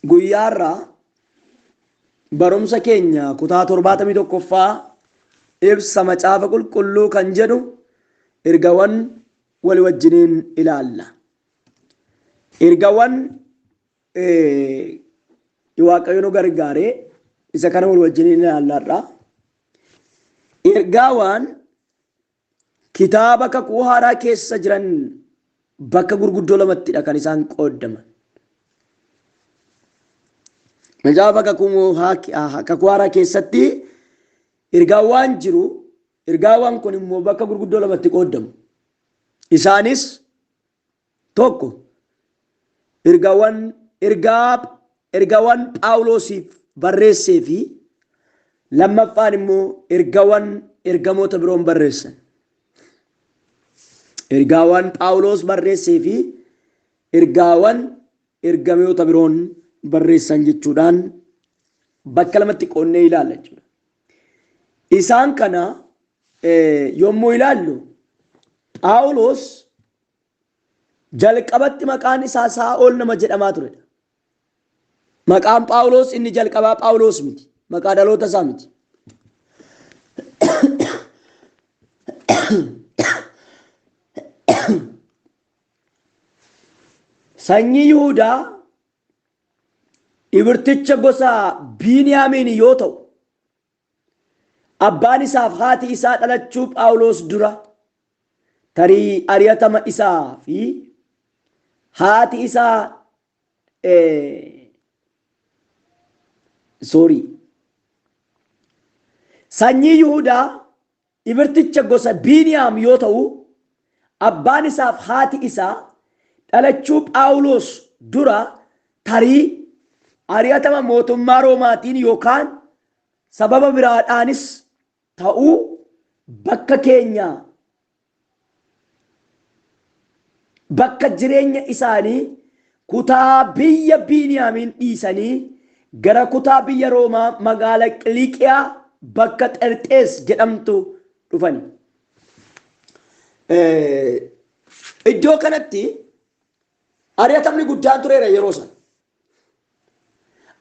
Guyyaa irraa barumsa keenya kutaa torbaatamii tokkoffaa ibsa macaafa qulqulluu kan jedhu ergawan wali wajjiniin ilaalla. Ergawan Ee, Waaqayyo nu gargaare isa kana wal wajjin ilaalla har'a. Ergaawaan kitaaba kakuu haaraa keessa jiran bakka gurguddoo lamattidha kan isaan qooddaman. Macaafa kakuu haa- kakuu haaraa keessatti ergaawaan jiru ergaawaan kun immoo bakka gurguddoo lamatti qooddamu. Isaanis 1 Ergawan Ergaa Ergawan Phaawuloosiif barreessee fi lammaffaan immoo ergawan ergamoota biroon barreessan. Ergaawan Phaawuloos barreessee fi ergaawan ergamoota biroon barreessan jechuudhaan bakka lamatti qoonnee ilaalla jechuudha. Isaan kana yommuu ilaallu Phaawulos jalqabatti maqaan isaa Saa'ol nama jedhamaa turedha. Maqaan Phaawulos inni jalqabaa Phaawulos miti. Maqaa dhaloota isaa miti. Sanyii Yihudaa Ibrticha gosa Biiniyaamiini yoo ta'u, abbaan isaaf haati isaa dhalachuu Phaawulos dura tarii ari'atama isaa fi haati isaa sorry Sanyii Yihudaa Ibrticha gosa Biiniyaam yoo ta'u, abbaan isaaf haati isaa dhalachuu Phaawulos dura tarii ari'atama mootummaa Roomaatiin yookaan sababa biraadhaanis ta'uu bakka keenyaa bakka jireenya isaanii kutaa biyya Biiniyaamiin dhiisanii gara kutaa biyya Roomaa magaala Qiliiqiyaa bakka Xerxees jedhamtu dhufani. Iddoo kanatti ari'atamni guddaan tureera yeroo sana.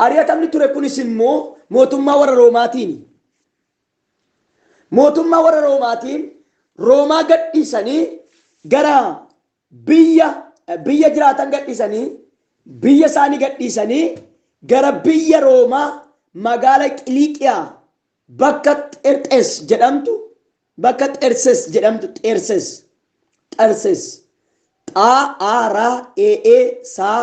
Ari'atamni ture kunis immoo mootummaa warra Roomaatiin. Mootummaa warra Roomaatiin Roomaa gadhiisanii gara biyya biyya jiraatan gadhiisanii biyya isaanii gadhiisanii gara biyya Roomaa magaala Qiliiqiyaa bakka Xerxes jedhamtu bakka Xerses jedhamtu Xerses Xerses xaa aa raa ee ee saa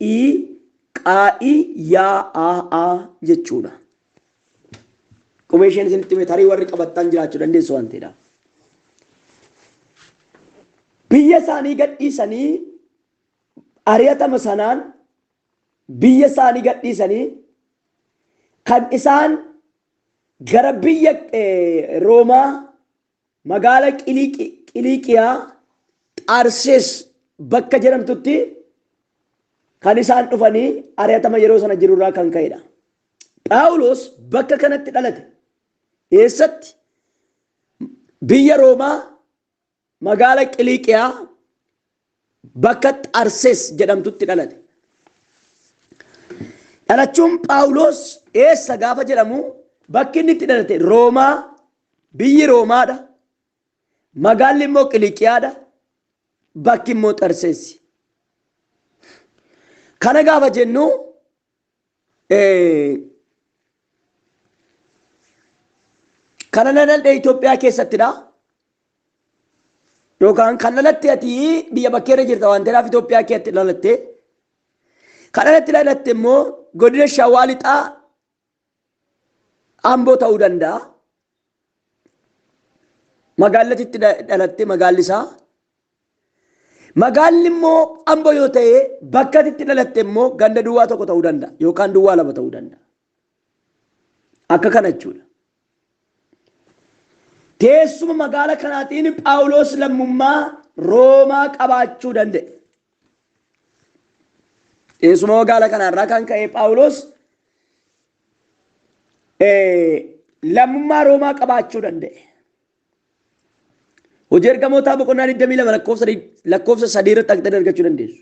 i qaa'i yaa aa aa jechuudha. Qubee isheen isinitti hime tarii warri qabattan jiraachuu dandeessu waan ta'eedha. Biyya isaanii gadhiisanii ari'atama sanaan biyya isaanii gadhiisanii kan isaan gara biyya eh, Roomaa Magaala Qiliiqiyaa Xaarsees bakka jedhamtutti kan isaan dhufanii ari'atama yeroo sana jiru irraa kan ka'e dha. Phaawulos bakka kanatti dhalate. Eessatti? Biyya Roomaa magaala Qiliiqiyaa Bakka Xarsees jedhamtutti dhalate. Dhalachuun Phaawuloos eessa gaafa jedhamu bakki inni itti dhalate Roomaa, biyyi Roomaadha, magaalli immoo Qiliiqiyaadha, bakki immoo Xarseessi. Kana gaafa jennu Kana laladhe Itoophiyaa keessattidha. Yookaan kan lalatte ati biyya bakkee irra jirta waan ta'eef Itoophiyaa keessatti lalatte. Kan alatti lalatte immoo godina Shawaa Lixaa Amboo ta'uu danda'a. Magaallatti itti dhalatte magaalli isaa. Magaalli immoo Amboo yoo ta'e bakka itti dhalatte immoo ganda duwwaa tokko ta'uu danda'a yookaan duwwaa lama ta'uu danda'a. Akka kana jechuudha. Teessuma magaala kanaatiin Phaawulos lammummaa Roomaa qabaachuu danda'e. Teessuma wagaala kanarraa kan ka'e Phaawulos lammummaa Roomaa qabaachuu danda'e. Hojii ergamootaa boqonnaa 22 lakkoofsa lakkoofsa 3 irratti argitanii argachuu dandeessu.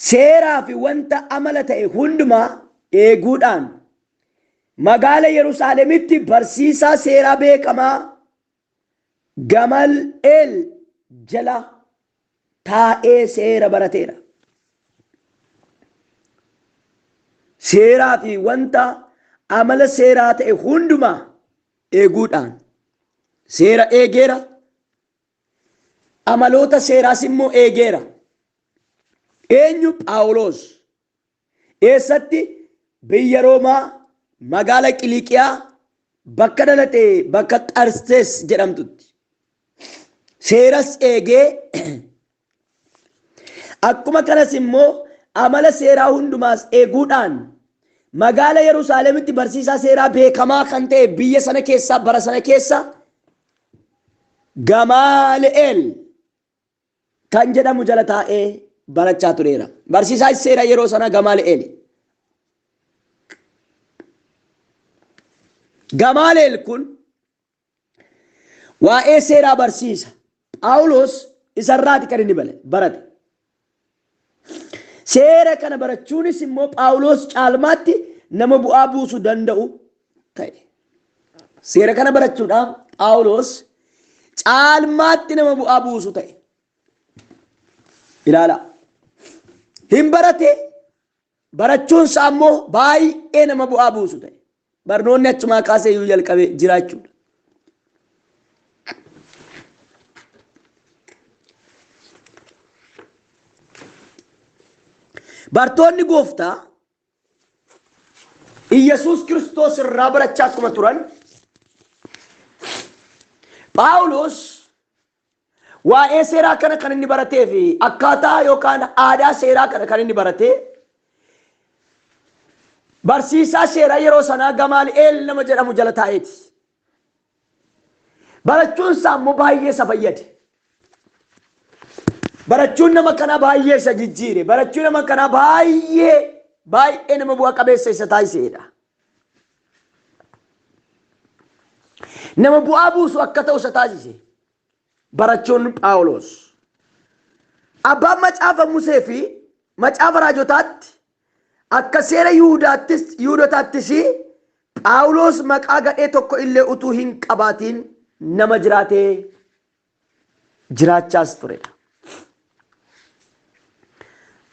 Seeraa fi wanta amala ta'e hundumaa eeguudhaan magaala Yerusaalemitti barsiisaa seeraa beekamaa Gamal'eel jala taa'ee seera barateera. Seeraa fi wanta amala seeraa ta'e hundumaa eeguudhaan seera eegeera, Amaloota seeraas immoo eegeera. Eenyu Phaawulos? Eessatti? Biyya Roomaa, magaala Qiliiqiyaa, bakka dhalate bakka Xarsees jedhamtutti. Seeras eegee Akkuma kanas immoo amala seeraa hundumaas eeguudhaan magaala Yerusaalemitti barsiisaa seeraa beekamaa kan ta'e biyya sana keessaa bara sana keessa Gamaali'eel kan jedhamu jala taa'ee barachaa tureera. Barsiisaa seera yeroo sana Gamaali'eel. Gamaali'eel kun Waa'ee seeraa barsiisa Phaawulos isa irraati kan inni bale- barate. Seera kana barachuunis immoo Phaawulos caalmaatti nama bu'aa buusu danda'u ta'e. Seera kana barachuudhaan Phaawulos caalmaatti nama bu'aa buusu ta'e. Ilaalaa. Hin barate barachuun isaa immoo baay'ee nama bu'aa buusu ta'e. Barnoonni achumaa kaasee iyyuu jalqabe jiraachuudha. Bartoonni gooftaa Iyyasuus Kiristoos irraa barachaa akkuma turan Phaawulos Waa'ee seeraa kana kan inni baratee fi akkaataa yookaan aadaa seeraa kana kan inni barate barsiisaa seeraa yeroo sanaa Gamaali'eel nama jedhamu jala taa'eeti. Barachuun isaa immoo baay'ee isa fayyade. Barachuun nama kanaa baay'ee isa jijjiire. Barachuun nama kanaa baay'ee baay'ee nama bu'a qabeessa isa taasiseedha. Nama bu'aa buusu akka ta'u isa taasise. Barachoonni Phaawulos. Abbaan macaafa Musee fi macaafa raajotaatti akka seera Yihudaattis Yihudotaattis Phaawulos maqaa gadhee tokko illee utuu hin qabaatiin nama jiraatee jiraachaas turedha.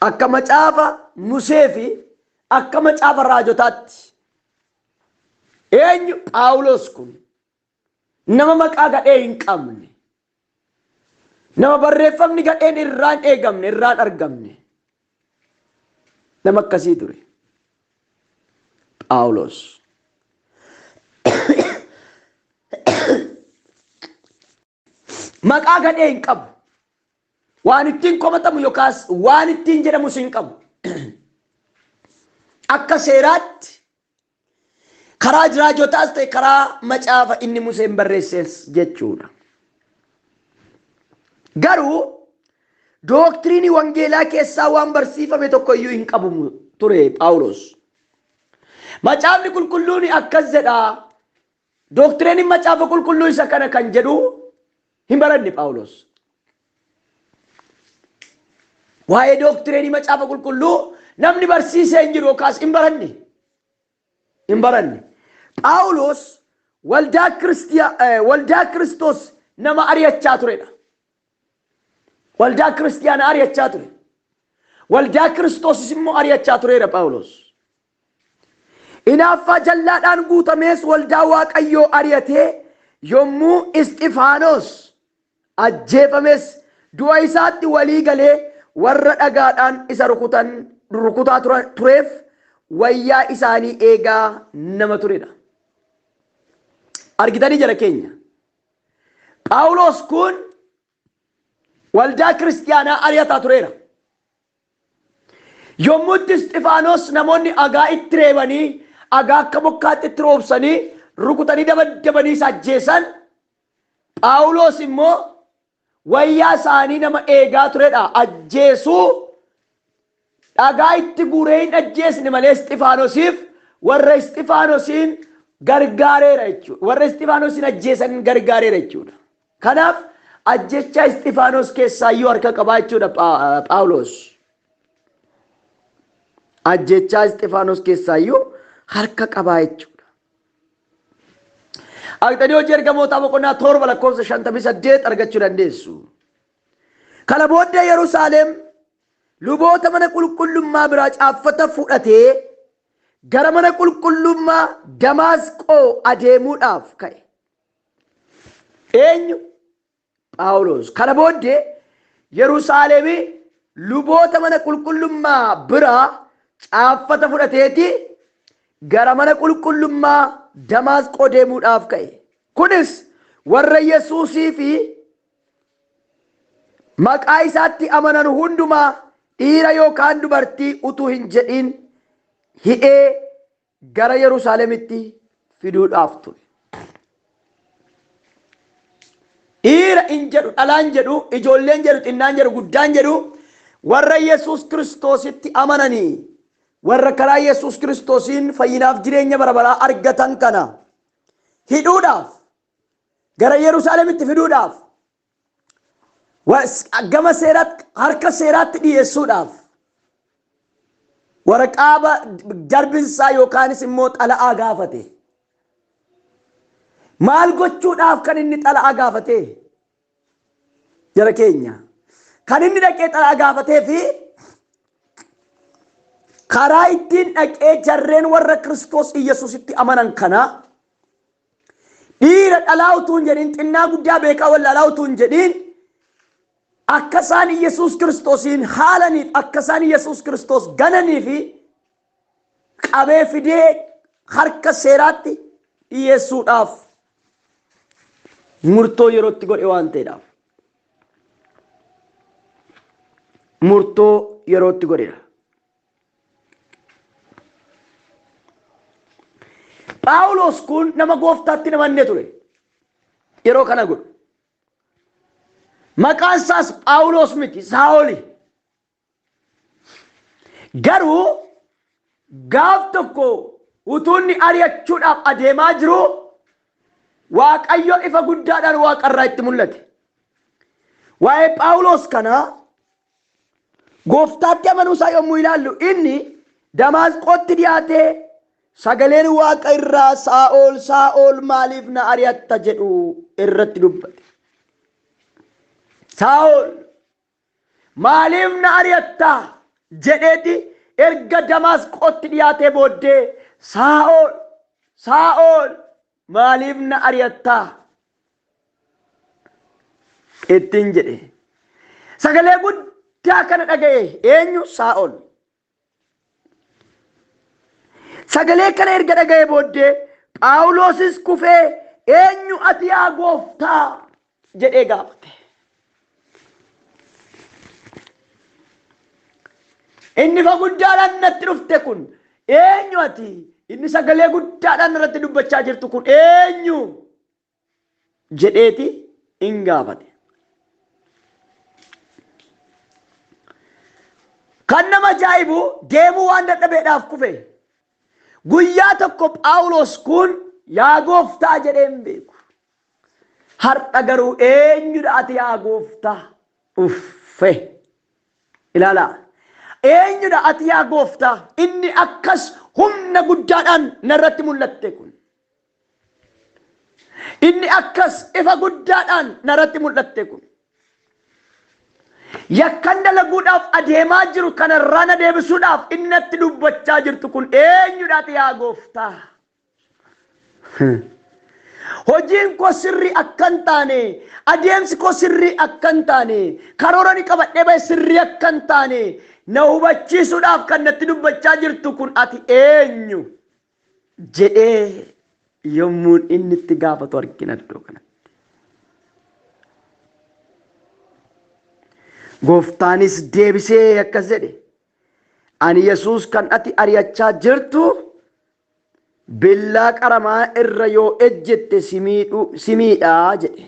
Akka macaafa Musee fi akka macaafa raajotaatti eenyu Phaawulos kun nama maqaa gadhee hin qabne nama barreeffamni gadheen irraan eegamne irraan argamne Nama akkasii ture. Phaawulos. Maqaa gadhee hin qabu. Waan ittiin komatamu yookaas waan ittiin jedhamus hin qabu. Akka seeraatti Karaa jiraajotaas ta'e karaa macaafa inni Museen barreessees jechuudha. Garuu dooktirinii wangeelaa keessaa waan barsiifame tokko iyyuu hin qabu ture Phaawulos. Macaafni qulqulluun akkas jedha Dooktireenin Macaafa Qulqulluu isa kana kan jedhu hin baranne Phaawulos. Waa'ee dooktireenii Macaafa Qulqulluu namni barsiisee hin jiru yookaas hin baranne. Hin baranne. Phaawulos waldaa Kiristiya- eh, waldaa Kiristoos nama ari'achaa turedha. Waldaa Kiristiyaana ari'achaa ture. Waldaa Kiristoosis immoo ari'achaa tureera Phaawulos. Hinaaffaa jallaadhaan guutamees waldaa Waaqayyoo ari'atee yommuu Isxifaanos ajjeefames du'a isaatti walii galee warra dhagaadhaan isa rukutan rukutaa turan tureef wayyaa isaanii eegaa nama turedha. Argitanii jara keenya. Phaawulos kun Waldaa Kiristiyaanaa ari'ataa tureera. Yommuu itti Isxifaanos namoonni agaa itti reebanii agaa akka bokkaatti itti roobsanii rukutanii dabaddabanii isa ajjeesan Phaawulos immoo wayyaa isaanii nama eegaa turedha ajjeesuu Dhagaa itti guuree hin ajjeesne malee Isxifaanosiif warra Isxifaanosiin gargaareera jechuudha. Warra Isxifaanosiin ajjeesan gargaareera jechuudha. Kanaaf ajjechaa Isxifaanos keessaayyuu harka qabaa jechuudha Phaawulos. Ajjechaa Isxifaanos keessaayyuu harka qabaa jechuudha. Aqxanii hojii ergamootaa boqonnaa torba lakkoofsa shantamii saddeet argachuu dandeessu. Kana booddee Yerusaalem Luboota mana qulqullummaa biraa caaffata fudhatee gara mana qulqullummaa Damaasqoo adeemuudhaaf ka'e. Eenyu? Phaawulos. Kana booddee Yerusaalemi luboota mana qulqullummaa biraa caaffata fudhateeti gara mana qulqullummaa Damaasqoo deemuudhaaf ka'e. Kunis warra Yesuusii fi Maqaa isaatti amanan hundumaa dhiira yookaan dubartii utuu hin jedhiin hidhee gara Yerusaalemitti fiduudhaaf ture. Dhiira hin jedhu, dhalaan jedhu, ijoolleen jedhu, xinnaan jedhu, guddaan jedhu warra Yesuus Kiristoositti amananii warra karaa Yesuus Kiristoosiin fayyinaaf jireenya bara baraa argatan kana hidhuudhaaf gara Yerusaalemitti fiduudhaaf gama seeraatti harka seeraatti dhiyeessuudhaaf waraqaa darbinsaa yookaanis immoo xala'aa gaafate. Maal gochuudhaaf kan inni xala'aa gaafate? Jara keenya. Kan inni dhaqee xala'aa gaafatee fi karaa ittiin dhaqee jarreen warra Kiristoos Iyyasuusitti amanan kanaa Dhiira dhalaa utuu hin jedhin, xinnaa guddaa beekaa wallaalaa utuu hin jedhin, akka isaan Iyyasuus Kiristoosiin haalaniif, akka isaan Iyyasuus Kiristoos gananiifi qabee fidee harka seeraatti dhiyeessuudhaaf murtoo yerootti godhe waan ta'eedhaaf. Murtoo yerootti godheedha. Phaawulos kun nama gooftaatti namanne ture. Yeroo kana godhu. Maqaan isaas Phaawulos miti Saa'oli. Garuu gaaf tokko utuunni ari'achuudhaaf adeemaa jiru Waaqayyo ifa guddaadhaan waaqarraa itti mul'ate. Waa'ee Phaawulos kana Gooftaatti amanuu isaa yommuu ilaallu inni Damaasqootti dhiyaatee sagaleen waaqa irraa Saa'ol Saa'ol maaliif na ari'atta jedhu irratti dubbate. Saa'ol maaliif na ari'atta jedheeti erga Damaasqootti dhiyaatee booddee Saa'ol Saa'ol maaliif na ari'atta ittiin jedhe. Sagalee guddaa kana dhaga'e eenyu Saa'ol. Sagalee kana erga dhaga'e booddee Phaawuloosis kufee eenyu ati yaa gooftaa jedhee gaafate. Inni fa guddaadhaan natti dhufte kun eenyu ati? Inni sagalee guddaadhaan irratti dubbachaa jirtu kun eenyu? jedheeti in gaafate. Kan nama ajaa'ibu deemuu waan dadhabeedhaaf kufe. Guyyaa tokko Phaawulos kun yaa gooftaa jedhee hin beeku. Har'a garuu eenyudha ati yaa gooftaa? Uffe. Ilaalaa. Eenyudha ati yaa gooftaa? Inni akkas humna guddaadhaan narratti mul'atte kun. Inni akkas ifa guddaadhaan naratti mul'atte kun yakkan dalaguudhaaf adeemaa jiru kanarraa na deebisuudhaaf inni natti dubbachaa jirtu kun eenyudhaati yaa gooftaa? Hojiin koo sirrii akka hin taane, adeemsi koo sirrii akka hin taane, karoora ni qabadhee bahe sirrii akka hin taane na hubachiisuudhaaf kan natti dubbachaa jirtu kun ati eenyu? jedhee yommuun inni itti gaafatu argina iddoo kanatti. Gooftaanis deebisee akkas jedhe ani Yesuus kan ati ari'achaa jirtu billaa qaramaa irra yoo ejjette si miidhu- si miidhaa jedhe.